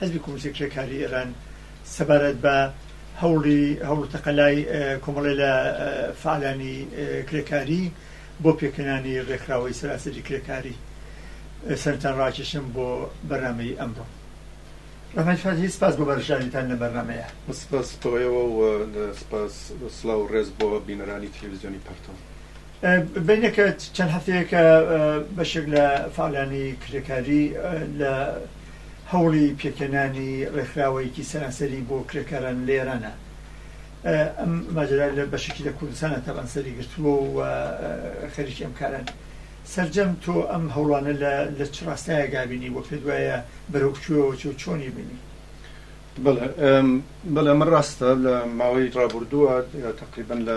حزبی کۆمۆنیستی کرێکاریی ئێران سەبارەت بە هەوڵی هەوڵ و تەقەلای کۆمەڵێ لە فەعالانی کرێکاری بۆ پێکهێنانی ڕێکخراوەی سەراسەری کرێکاری سەرتان ڕاکێشم بۆ بەرنامەی ئەمڕۆ ڕەحمەت فەتحی سپاس بۆ بەرژاویتان لە بەرنامەیە سپاس بۆ ئێوە و سپاس سڵاو و ڕێز بۆ بینەرانی تەلەڤیزیۆنی پەرتەو. بەینەکە چەند هەفتەیەکە بەشێک لە فەعالانی کرێکاری لە هەوڵی پێکهێنانی ڕێکخراوەیەکی سەرانسەری بۆ کرێکاران لە ئێرانە. ئەم ماجەرا لە بەشێکی لە کوردستانە تەبعەن سەری گرتووە و خەریکی ئەم کارەن. سەرجەم تۆ ئەم هەوڵانە لە چ ڕاستایەکدا بینی و پێت وایە بەرەو کوێوە چێ و چۆنی بینی؟ بەڵێ بەڵێ ئەمە ڕاستە لە ماوەی ڕابوردووە تەقریبەن لە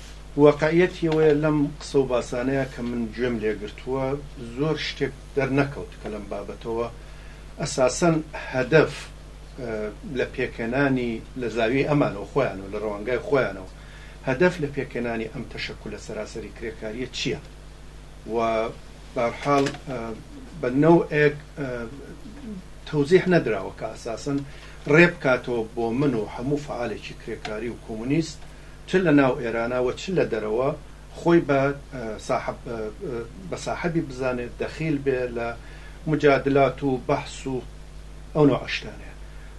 واقعیەتی ئەوەیە لەم قسە و باسانەیا کە من گوێم لێ گرتووە زۆر شتێک دەرنەکەوت کە لەم بابەتەوە ئەساسەن هەدەف لە پێکهێنانی لە زاویەی ئەمانەوە خۆیانەوە لە ڕەوانگای خۆیانەوە هەدەف لە پێکهێنانی ئەم تەشەکولە سەراسەری کرێکاریە چیە و بارحاڵ بە نەوئێک تەوزیح نەدراوە کە ئەساسەن ڕێ بکاتەوە بۆ من و هەموو فەعالێکی کرێکاری و کۆمونیست چ لە ناو ئێرانا و چ لە دەرەوە خۆی بە ساحەبی بزانێت دەخیل بێ لە موجادلات و بەحس و ئەو نەوعە شتانە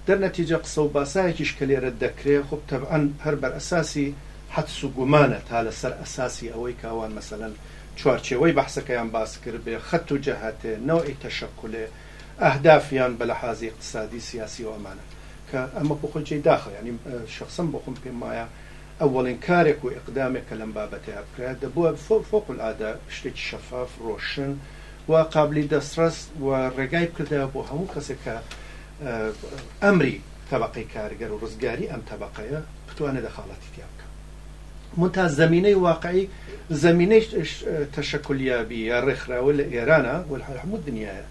دەر نەتیجە قسە و باسایەکیش کە لێرە دەکرێ خۆ تەبعەن هەر بەر ئەساسی حەدس و گومانە تا لە سەر ئەساسی ئەوەی کە ئەوان مەسەلەن چوارچێوەی بەحسەکەیان باس کرد بێ خەت و جەهەتێ نەوعی تەشەکولێ اهداف یان بە لەحازی اقتصادی سیاسی و ئەمانە کە ئەمە بۆ خۆی جێی داخە یانی شەخسەن بۆ خۆم پێم وایە ئەوەڵین کارێک و اقدامێک کە لەم بابەتەیا بکرایە دەبووە فوق العادە شتێکی شەفاف ڕۆشن و قابلی دەستڕەس و ڕێگای بکردایە بۆ هەموو کەسێک کە ئەمری تەبەقەی کارگەر و ڕزگاری ئەم تەبەقەیە بتوانێ دەخاڵەتی تیا بکا. منتها زەمینەی واقعی زەمینەی تەشەکولیابی یا ڕێکخراوە لە ئێرانە وەل هەموو دنیاە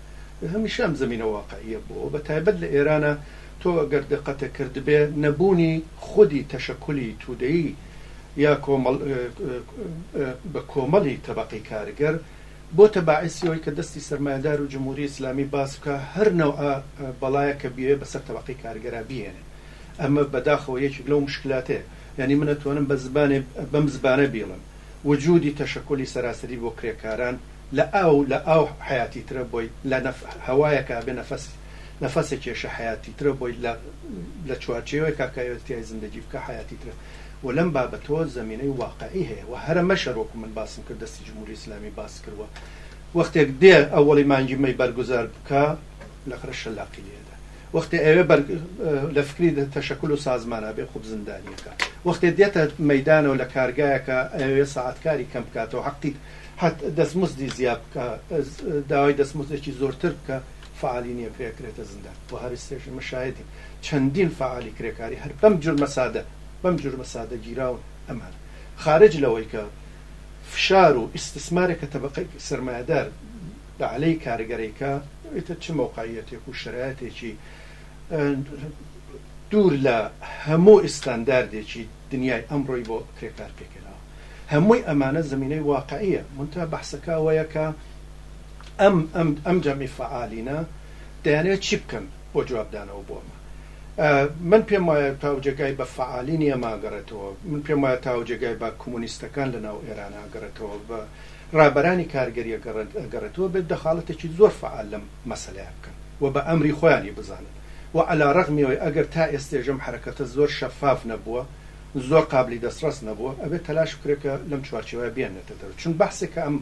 هەمیشە ئەم زەمینە واقعیە بۆ بە تایبەت لە ئێرانە تۆ گەر دقەتە کردبێ نەبوونی خودی تەشەکولی تودەیی یا کۆمەڵ بە کۆمەڵی تەبەقەی کارگەر بۆتە باعسی ئەوەی کە دەستی سەرمایەدار و جمهوری ئیسلامی باز بکا هەر نەوعە بەڵایەکە بیەوێ بەسەر تەبەقەی کارگەرا بیهێنێ ئەمە بەداخەوە یەکێک لەو مشکلاتەیە یانی من ئەتوانم بە زبانێ بەم زبانە بیڵێم وجودی تەشەکولی سەراسەری بۆ کرێکاران لە ئاو لە ئاو حەیاتی ترە بۆی لە نەف هەوایەکا بێ نەفەس نەفەسێ کێشە حەیاتی ترە بۆی لە لە چوارچێوەێکا کە ئەیەوێت تیای زندەگی بکا حەیاتی ترە و لەم بابەتۆ زەمینەی واقعی هەیە و هەرە مەشەر وەکو من باسم کرد دەستی جمهوری ئیسلامی باس کرد و وەختێک دێ ئەوەڵی مانگی مەی بەرگوزار بکا لەخرە شەلاقی لێ ئەدا. وەختێ ئەوێ بەر لە فکری تەشەکول و سازمان ئەبێ خوب زندانیەکە وەختێ دێتە مەیدانەوە لە کارگایەکە ئەوێ سەعات کاری کەم بکاتەوە حەقی حەت دەستمزدی زیاد بکە داوای دەستمزدێکی زۆرتر بکە فعالی نیە کرێ کرێتە زندان و هەر ئێستێش ئێمە شاهدین چەندین فعالی کرێکاری هەر بەم جورمە سادە بەم جورمە سادە گیراون ئەمان خارج لەوەی کە فشار و ئیستسمارێکە تەبەقەی سەرمایەدار بەعلەی کارگەریکە ئیتر چ مەوقعیەتێک و شەرایەتێکی دوور لە هەموو ئیستانداردێکی دنیای ئەمڕۆی بۆ کرێکار پێکهێناوە هەمووی ئەمانە زەمینەی واقعیە مونتها بەحسەکە ئەوەیە کە ئەم ئەم ئەم جەمی فەعالینە دەیانەوێت چی بکەن بۆ جوابدانەوە بۆ ئەمە من پێم وایە تاوجێگای بە فەعالینی ئەمە ئەگەڕێتەوە من پێم وایە تاوجێگای بە کۆمۆنیستەکان لە ناو ئێران ئەگەڕێتەوە بە ڕابەرانی کارگەریە گەڕێت ئەگەڕێتەوە بێت دەخاڵەتێکی زۆر فەعال لەم مەسەلەیا بکەن و بە ئەمری خۆیانی بزانن و عەلا ڕەغمی ئەوەی ئەگەر تا ئێستێش ئەم حەرەکەتە زۆر شەفاف نەبووە زۆر قابلی دەسڕەس نەبووە ئەبێت تەلاش بکرێت کە لەم چوارچێوەیا بیاننێتە دەرەوە چون بەحسێک کە ئەم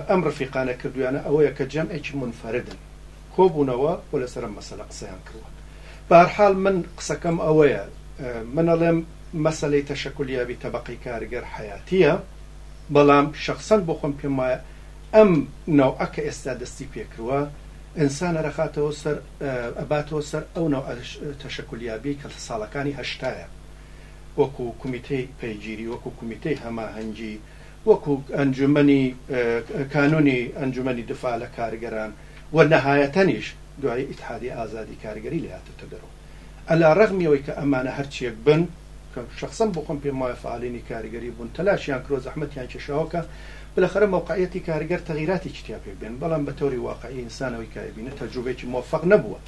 ئەم ڕفیقانە کردویانە ئەوەیە کە جەمعێکی مونفەردن کۆبونەوە و لەسەر ئەم مەسەلە قسەیان کردوە بەهەرحال من قسەکەم ئەوەیە من ئەڵێم مەسەلەی تەشەکول یابی تەبەقەی کارگەر حەیاتیە بەڵام شەخسەن بۆ خۆم پێم وایە ئەم نەوعە کە ئێستا دەستی پێکردوە ئینسان ئەرەخاتەوە سەر ئەباتەوە سەر ئەو نەوعە تەشەکول یابیەی کە ساڵەکانی هەشتایە وەکو کومیتەی پەیگیری وەکو کومیتەی هەماهەنگی وەکو ئەنجومەنی کانونی ئەنجومەنی دفاع لە کارگەران و نەهایەتەنیش دوای ئیتحادی ئازادی کارگەری لێهاتۆتە دەرو عەلا رەغمی ئەوەی کە ئەمانە هەرچیەک بن کە شەخسەن بۆ خۆم پێم وایە فەعالینی کارگەری بون تەلاشیان کرۆ زەحمەتیان کێشاوە کە بلەخەرە مەوقعیەتی کارگەر تەغیراتێکی تیا پێک بێن بەڵام بە تەوری واقعی ئینسان ئەوەی کە ئەیبینێت تەجروبەیەکی موفەق نەبوە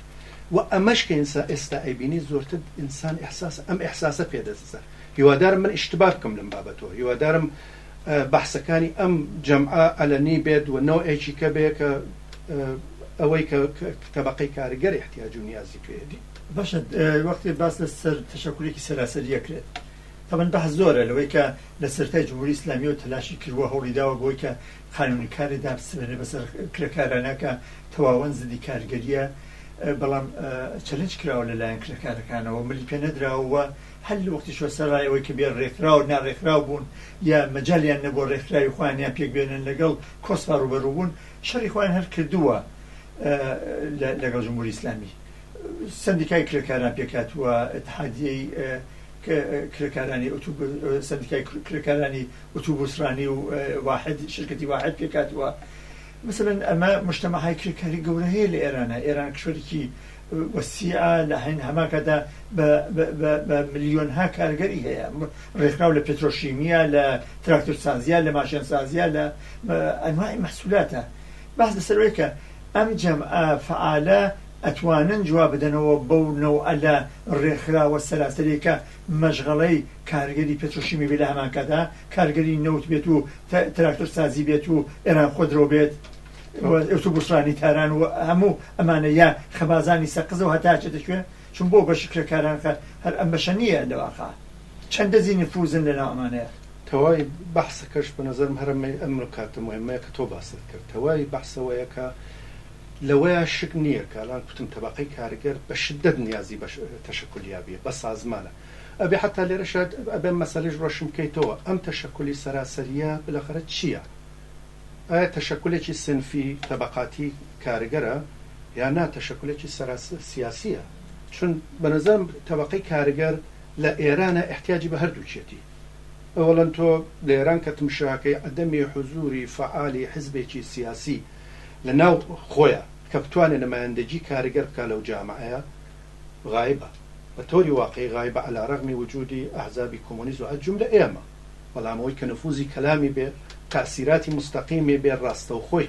و ئەمەش کە ئینسا ئێستا ئەیبینی زۆرتر ئینسان ئیحساسە ئەم ئیحساسە پێ دەززە هیوادارم من ئیشتبا بکەم لەم بابەتەوە هیوادارم بەحسەکانی ئەم جەمعە عەلەنی بێت و نەوعێکی کە بێ کە ئەوەی کە تەبەقەی کارگەر ئیحتیاج و نیازی پێیەتی. باشە وەختێ باس لە سەر تەشەکولێکی سەراسەری ئەکرێت تەبەن بەحس زۆرە لەوەی کە لە سەرەتای جمهوری ئیسلامیەوە تەلاشی کردوە هەوڵی داوە بۆی کە قانونی کاری دابسرێنێ بەسەر کرێکارانە کە تەواوەن زدی کارگەریە بەڵام چەلنج کراوە لە لایەن کرێکارەکانەوە ملی پێ نەدراوە و هەر لە وەختی سەرەڕای ئەوەی کە بێ ڕێکخراو و ناڕێکخراو بوون یا مەجالیان نەبووە ڕێکخراوی خۆیان یان پێکبێنن لەگەڵ کۆسپا ڕووبەڕوو بوون شەڕی خۆیان هەر کردووە لەگەڵ جمهوری ئیسلامی سندیکای کرێکاران پێکاتووە اتحادیەی کرێکارانی سندیکای کرێکارانی ئوتوبوسرانی و واحد شرکتی واحد پێکاتووە مثلەن ئەمە مشتەمەهای کرێکاری گەورە هەیە لە ئێرانە ئێران کشوەرێکی وسیعە لە هەمان کاتدا بە ملیۆنها کارگەری هەیە ڕێکخراو لە پترۆشیمیە لە تراکتۆر سازیە لە ماشێن سازیە لە ئەنواعی مەحسولاتە باس لەسەر ئەوەیە کە ئەم جەمعە فەعالە ئەتوانن جواب بدەنەوە بەو نەوعە لە ڕێکخراوە سەراسەریە کە مەشغەڵەی کارگەری پترۆشیمی بێت لە هەمان کاتدا کارگەری نەوت بێت و تراکتۆر سازی بێت و ئێران خۆدرەو بێت ئەوتو بوسرانی تاران و هەموو ئەمانە یا خەبازانی سەقزەوە هەتا ئەچێتە کوێ چون بۆ بەشی کرێکاران کات هەر ئەم بەشە نییە لە واقع چەند دەزی نفوزن لەناو ئەمانەیە. تەواوی بەحسەکەش بە نەزەرم هەر ئەمەی ئەم نکاتە موهیمەیە کە تۆ باست کرد تەواوی بەحس ئەوەیە کە لەوەیا شک نییە کە ئەلان کوتم تەبەقەی کارگەر بە شدەت نیازی بە تەشەکولیابیە بە سازمانە ئەبێ حەتا لێرەشە ئەبێ مەسەلەش ڕۆشن بکەیتەوە ئەم تەشەکولی سەراسەرییە بلەخەرە چییە؟ ئایا تەشەکولێکی سنفی، تەبەقاتی، کارگەرە یا نا تەشەکولێکی سەراسر سیاسیە؟ چون بەنەزەرم تەبەقەی کارگەر لە ئێرانە ئیحتیاجی بە هەردووکیەتی. ئەوەڵەن تۆ لە ئێران کە تمشاکەی عەدەمی حوزوری فەعالی حزبێکی سیاسی لە ناو خۆیە کە بتوانێ نمایندەگی کارگەر بکا لەو جامعەیە غایبە، بە تۆری واقعی غایبە علی رغم وجودی احزابی کۆمۆنیست و الجملە ئێمە، بەڵام ئەوەی کە نفوزی کەلامی بێ تاسیراتی مستەقیمی بێ راستەوخۆی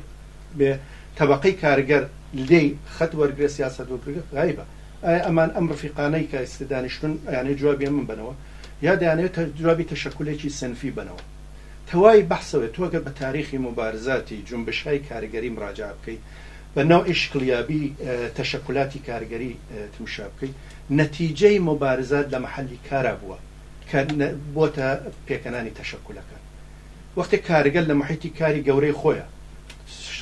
بێ تەبەقەی کارگەر لێی خەت وەرگرێ سیاسەت وەرگرێ غایبە. ئایا ئەمان ئەم رفیقانەی کە ئیستە دانیشتوون ئەیانەوێ جوابی ئەمن بەنەوە یا دەیانەوێ جوابی تەشەکولێکی سنفی بەنەوە؟ تەوای بەحسەوەیە تۆ گەر بە تاریخی موبارزاتی جونبشهای کارگەری مراجعە بکەی بە نەوعی شکڵیابی تەشەکولاتی کارگەری تمشا بکەی نەتیجەی موبارزات لە مەحەلی کارا بووە کە بۆتە پێکەنانی تەشەکولەکە وەختێ کارگەر لە موحیتی کاری گەورەی خۆیا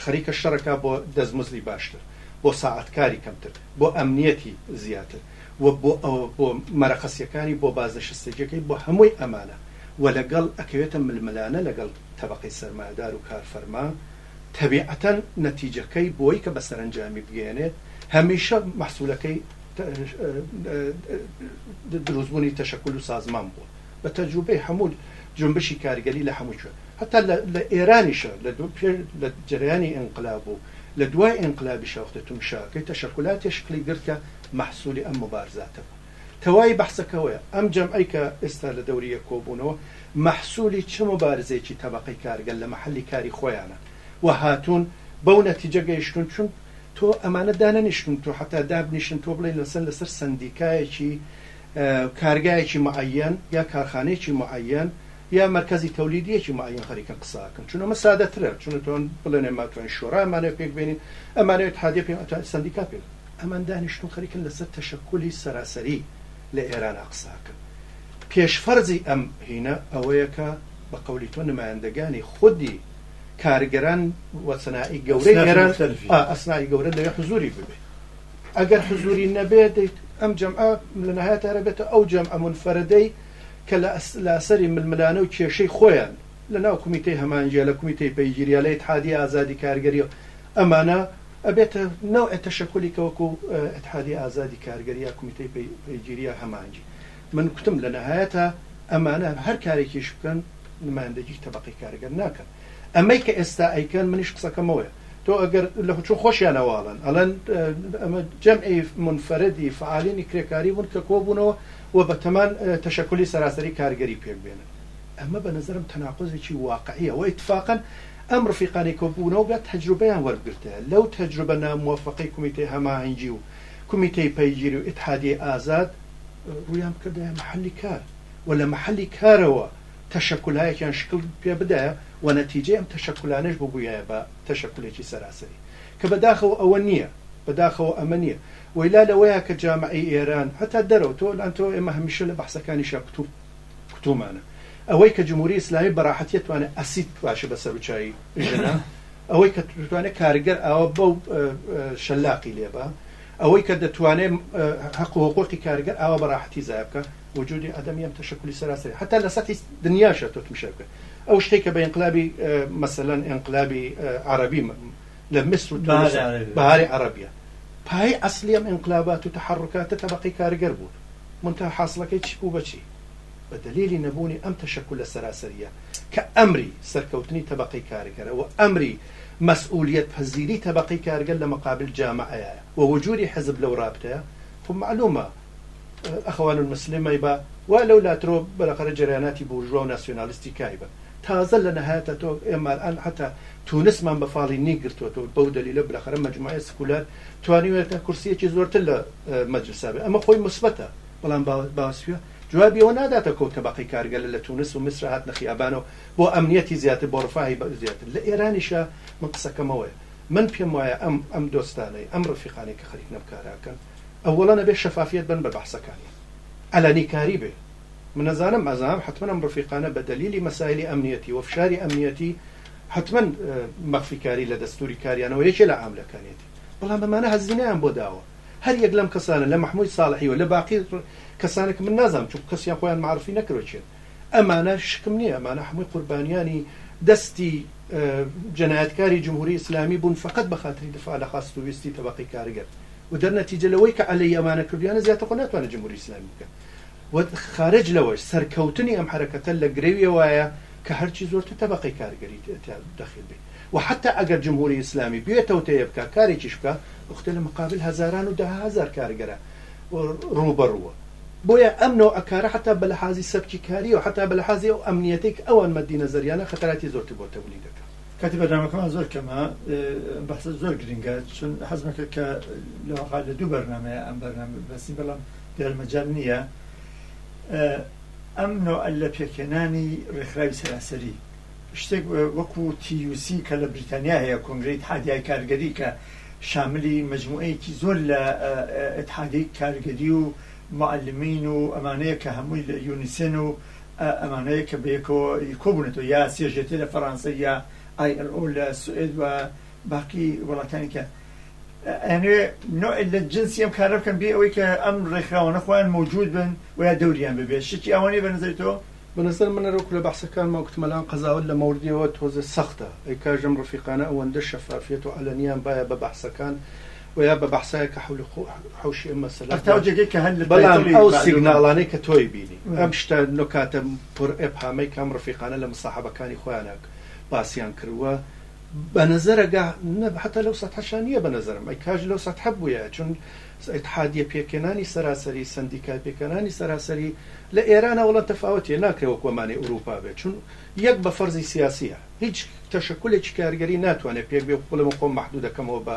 خەریکە شەڕەکا بۆ دەستمزدی باشتر بۆ ساعەت کاری کەمتر بۆ ئەمنیەتی زیاتر و بۆ ئەوە بۆ مەرەقەسیەکانی بۆ بازنشستەجیەکەی بۆ هەمووی ئەمانە وە لەگەڵ ئەکەوێتە ململانە لەگەڵ تەبەقەی سەرمایەدار و کارفەرما تەبیعەتەن نەتیجەکەی بۆی کە بە سەرەنجامی بگەیەنێت هەمیشە مەحسوولەکەی درووستبوونی تەشەکول و سازمان بووە بە تەجروبەی هەموو جونبشی کارگەری لە هەموو کوێ هەتا لە ئێرانیشە لە دوو پێش لە جەرەیانی ئینقلاب و لە دوای ئینقلابیشە وەختێ تمشاکەی تەشەکولاتێ شکلی گرت کە مەحسوولی ئەم موبارزاتە بوو. کە وای بەحسەکەوەیە ئەم جەمعەی کە ئێستا لە دەوری یەک کۆبوونەوە مەحسولی چ موبارزەیەکی تەبەقەی کارگەر لە مەحەلی کاری خۆیانە و هاتوون بەو نەتیجە گەیشتوون چون تۆ ئەمانە دانەنیشتوون تۆ حەتا دابنیشن تۆ بڵێی لەسەر لەسەر سەندیکایەکی کارگایەکی معەیەن یا کارخانەیەکی معەیەن یا مەرکەزی تەولیدیەکی معەیەن خەریکن قسە ئەکەن چون ئەمە سادەترە چون تۆن بڵێنێ ماتوانین شۆرا ئەمانەوێت پێک بێنین ئەمانەوێت اتحادیە پێ سەندیکا پێ ئەمان دانیشتون خەریکن لەسەر تەشەکولی سەراسەری لە ئێرانا قساکەن پێش فەرزی ئەم هینە ئەوەیە کە بە قەولی تۆ نمایندەگانی خودی کارگەران وەسنائی گەورەی ئێران ئەسنائی گەورە دەوێت حزوری ببێت ئەگەر حزوری نەبێت دەیت ئەم جەمعە لەنەهایەتارە بێتە ئەو جەمعە مونفەرەدەی کە لە لاسەری ململانە و کێشەی خۆیان لەناو کومیتەی هەمانجیە لە کومیتەی پەیگیریا لە ئیتحادی ئازادی کارگەریەوە ئەمانە ئەبێتە نەوعێ تەشەکولی کە وەکو ئیتحادیە ئازادی کارگەر یا کومیتەی پەیگیری یا هەمانگی. من کوتم لە نەهایەتا ئەمانە هەر کارێکیش بکەن نمایندەگی تەبەقەی کارگەر ناکەن. ئەمەی کە ئێستا ئەیکەن منیش قسەکەم ئەوەیە تۆ ئەگەر لە چون خۆشیان ئەوەڵێن ئەڵێن ئەمە جەمعی مونفەرەدی فەعالینی کرێکاری بوون کە کۆبوونەوە و بە تەمان تەشەکولی سەراسەری کارگەری پێک بێنن. ئەمە بە نەزەرم تەناقوزێکی واقعیە وە ئیتفاقەن ئەم ڕفیقانەی کە بوونەوە بە تەجروبەیان وەربگرتایە لەو تەجروبە ناموەفەقەی کومیتەی هەماهەنگی و کومیتەی پەیگیری و ئیتحادیەی ئازاد ڕوویان بکردایە مەحەلی کار و لە مەحەلی کارەوە تەشەکولایەکیان شکل پێ بدایە و نەتیجەی ئەم تەشەکولانەش ببوویایە بە تەشەکولێکی سەراسەری کە بەداخەوە ئەوە نیە بەداخەوە ئەمە نیە وەیلا لەوەیە کە جامعەی ئێران هەتا دەرەوە تۆ لان تۆ ئێمە هەمیشە لە بەحسەکانیشا کتوب کوتومانە ئەوەی کە جمهوری ئیسلامی بەڕاحەتی توانێت ئەسید بپاشێ بە سەروچایی ژنە ئەوەی کە توانێت کارگەر ئاوە بەو شەلاقی لێبە ئەوەی کە دەتوانێت حق و حقوقی کارگەر ئاوە بەڕاحەتی زای بکە وجودی عدمی ئەم تەشکلی سەراسەری حتا لە سەتی دنیاشە تۆ تمشا بکە ئەو شتێک کە بە ئینقلابی مەسەلەن ئینقلابی عربی لە میسر و تونس و بەهاری عەڕەبیە پایەی ئەسڵی ئەم ئینقلابات و تەحەڕوکاتە تەبەقەی کارگەر بوون مونتەها حاسڵەکەی چی بوو بە چی؟ بە دەلیلی نەبوونی ئەم تەشەکولە سەراسەریە کە ئەمری سەرکەوتنی تەبەقەی کارگەرە و ئەمری مەسئولیەت پەزیری تەبەقەی کارگەر لە مەقابل جامەعەیە و وجودی حزب لەو ڕابتەیە خۆ مەعلومە ئەخەوان المسلمەی با وا لەو لا ترۆ بەرەقەرە جەرەیاناتی بورژوا و ناسیۆنالیستی کای بە تازە لە نەهایەتە تۆ ئێمار ئان حەتا تونسمان بە فاڵی نی گرتۆتەوە بەو دەلیلە بلەخەرە مەجموعەیە سکولار توانیوێتە کورسیەکی زۆرتر لە مەجلسا بێ ئەمە خۆی مسبەتە بەڵام باسویە جوابی ئەوە ناداتە کۆ تەبەقەی کارگەلە لە تونس و میسر هاتنە خیابانەوە بۆ ئەمنیەتی زیاتر بۆ ڕفاهی بە زیاتر لە ئێرانیشە من قسەکەمەوەیە من پێم وایە ئەم ئەم دۆستانەی ئەم ڕفیقانەی کە خەریک نەم کاراکەن ئەوەڵەن ئەبێ شەفافیەت بەن بە بەحسەکانیان عەلەنی کاری بێ من ئەزانم ئەزانم حەتمەن ئەم ڕفیقانە بە دەلیلی مەسایلی ئەمنیەتی و فشاری ئەمنیەتی حەتمەن مەخفی کاری لە دەستوری کاریانەوە یەکێ لە عاملەکانیەتی بەڵام ئەمانە هەزینەیان بۆ داوە هەر یەک لەم کەسانە لە مەحموی ساڵحی و لە باقی کەسانە کە من نازانم چونکو کەسیان خۆیان مەعڕفی نەکردوە کێن ئەمانە شکم نیە ئەمانە هەموی قوربانیانی دەستی جەنایەتکاری جمهوری ئیسلامی بون فەقەت بە خاتری دفاع لە خواست و ویستی تەبەقەی کارگر و دەر نەتیجە لەوەی کە عەلەی ئەمانە کردویانە زیاتر خۆ ناتوانێت جمهوری ئیسلامی بکات و خارج لەوەش سەرکەوتنی ئەم حەرەکەتە لە گرەویەوایە کە هەرچی زۆرتر تەبەقەی کارگەری تیا دەخیل بێت و حەتا ئەگەر جمهوری ئیسلامی بوێ تەوتەیە بکات کارێکیش بکات ئوختە لە مقابل هەزاران و دەها هەزار کارگەرە ڕووبەڕووە بۆیە ئەم نەوعە کارە حەتا بە لەحازی سەبکی کاریەوە حەتا بە لەحازی ئەو ئەمنیەتەی کە ئەوان مەدی نەزەریانە خەتەراتی زۆرتر بۆ تەولی دەکات. کاتی بەرنامەکەمان زۆر کەمە ئەم بەحسە زۆر گرنگە چون حەزمە کرد کە لەواقع لە دوو بەرنمەیە ئەم بەرنامە بەسی بەڵام دیار مەجال نییە ئەم نوع لە پێکهێنانی ڕێکخراوی سەراسەری شتێک وەکو تیوسی کە لە بریتانیا هەیە کۆنگری اتحادیای کارگەری کە شاملی مجموعەیەکی زۆر لە اتحادی کارگەری و معلمین و ئەمانەیە کە هەمووی لە یونیسن و ئەمانەیە کە بەیەکەوە کۆبوونەتەوە یا سێژێتێ لە فەرانسە یا ئای ئەل ئۆ لە سوئد و باقی وڵاتانی کە ئەنوێ نوع لە جنسی ئەم کارە بکەن بێ ئەوەی کە ئەم ڕێکخراوانە خۆیان موجود بن و یا دەوریان ببێت شتی ئەوانەی بەنظری تۆ بەنظر من ئەرۆک لە بەحسەکانما وتمە لام قەزاوەت لە مەوردیەوە تۆزێ سەختە ئەی کاژەم ڕفیقانە ئەوەندە شەفافیەت و عەلەنیان بایە بە بەحسەکان بۆیە بە بەحسایە کە حەول و قوع حەوشی ئەم مەسەلە بووە بەڵام ئەو سیگناڵانەی کە تۆی بینی ئەم شتە نکاتە پر ابهامەی کە ئەم ڕفیقانە لە مساحەبەکانی خۆیانا باسیان کردووە بە نەزەرەگا نە حەتە لەو سەتحەشا نییە بە نەزەرم ئەی کاش لەو سەتحە بوویایە چون اتحادیە پێکهێنانی سەراسەری سەندیکای پێکهێنانی سەراسەری لە ئێرانە وەڵا تەفاوەتیە ناکرێ وەک وەمانەی ئورووپا بێت چون یەک بە فەرزی سیاسییە هیچ تەشەکولێکی کارگەری ناتوانێت پێک بێ بڵێ من خۆم مەحدوود دەکەمەوە بە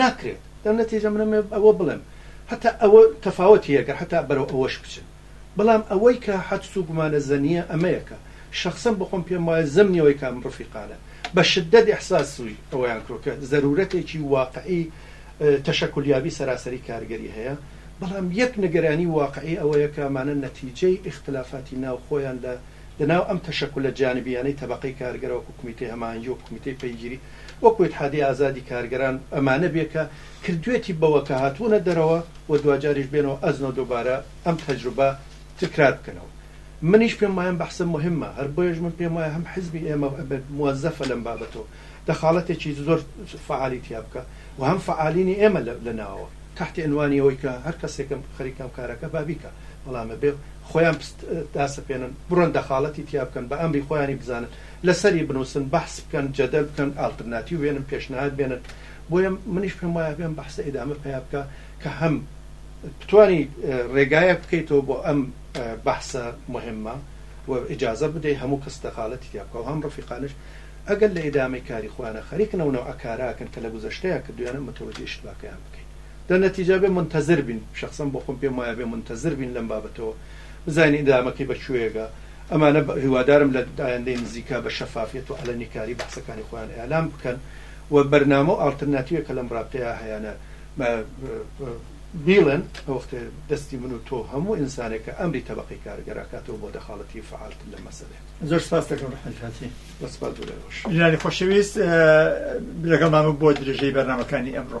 ناکرێت لەو نەتیجە منم ئەوە بڵێم هەتا ئەوە تەفاوەتی هەیە گەر هەتا بەرەو ئەوەش بچن بەڵام ئەوەی کە حەدس و گومانە زەنیە ئەمەیە کە شەخسەن بۆ خۆم پێم وایە زەمنی ئەوەی کە ئەم ڕفیقانە بە شدەت ئیحساسوی ئەوەیان کردوە کە زەرورەتێکی واقعی تەشەکولیابی سەراسەری کارگەری هەیە بەڵام یەک نگرانی واقعی ئەوەیە کە ئەمانە نەتیجەی ئیختلافاتی ناو خۆیان لە لە ناو ئەم تەشەکولە جانبییانەی تەبەقەی کارگەرە وەکو کومیتەی هەماهەنگی وکومیتەی پەیگیری وەکو ئیتحادی ئازادی کارگەران ئەمانە بێ کە کردوێتی بەوە کە هاتوونە دەرەوە و دواجاریش بێنەوە ئەزنۆ دوبارە ئەم تەجروبە تکرار بکەنەوە منیش پێم وایەم بەحسە موهیمە هەر بۆیەش من پێم وایە هەم حزبی ئێمە موەزەفە لەم بابەتەوە دەخاڵەتێکی زۆر فەعالی تیا بکا و هەم فەعالینی ئێمە لە ناوەوە تەحتی عنوانی ئەوەی کە هەر کەسێکم خەریکە ئەم کارەکە با بیکا بەڵام ئەبێ خۆیان پست داسەپێنن بڕۆن دەخاڵەتی تیا بکەن بە ئەمری خۆیانی بزانن لە سەری بنووسن بەحس بکەن جەدەل بکەن ئالترناتیو بێنن پێشنهاد بێنن بۆیە منیش پێم وایە ئەبێ ئەم بەحسە ئیدامە پەیا بکا کە هەم بتوانی ڕێگایەک بکەیتەوە بۆ ئەم بەحسە موهیمە و ئیجازە بدەی هەموو کەس دەخاڵەتی تیا بکا و هەم ڕەفیقانەش ئەگەر لە ئیدامەی کاری خۆیانە خەریکن ئەو نەوعە کاراکەن کە لە گوزەشتەیا کردوویانە متەوەجێ ئیشتباکەیان بکەین لە نەتیجا بێ مونتەزر بین شەخسەن بۆ خۆم پێم وایە بێ مونتەزر بین لەم بابەتەوە بزانین ئیدامەکەی بە کوێیەگا ئەمانە هیوادارم لە ئایندەی نزیکا بە شەفافیەت و عەلەنی کاری بەحسەکانی خۆیان ئیعلام بکەن و بەرنامە و ئاڵترناتیوێک کە لەم ڕابتەیا هەیانە بیڵێن ئەوەختێ دەستی من و تۆ و هەموو ئینسانێک کە ئەمری تەبەقەی کارگەراکاتەوە بۆ دەخاڵەتی فەعالتر لەم مەسەلەیە. زۆر سپاست دەکەم ڕەحمەتی خاتری بۆ سپاس بۆ لای خۆش ژنانی خۆشەویست لەگەڵ مامە بۆ درێژەی بەرنامەکانی ئەمڕۆ.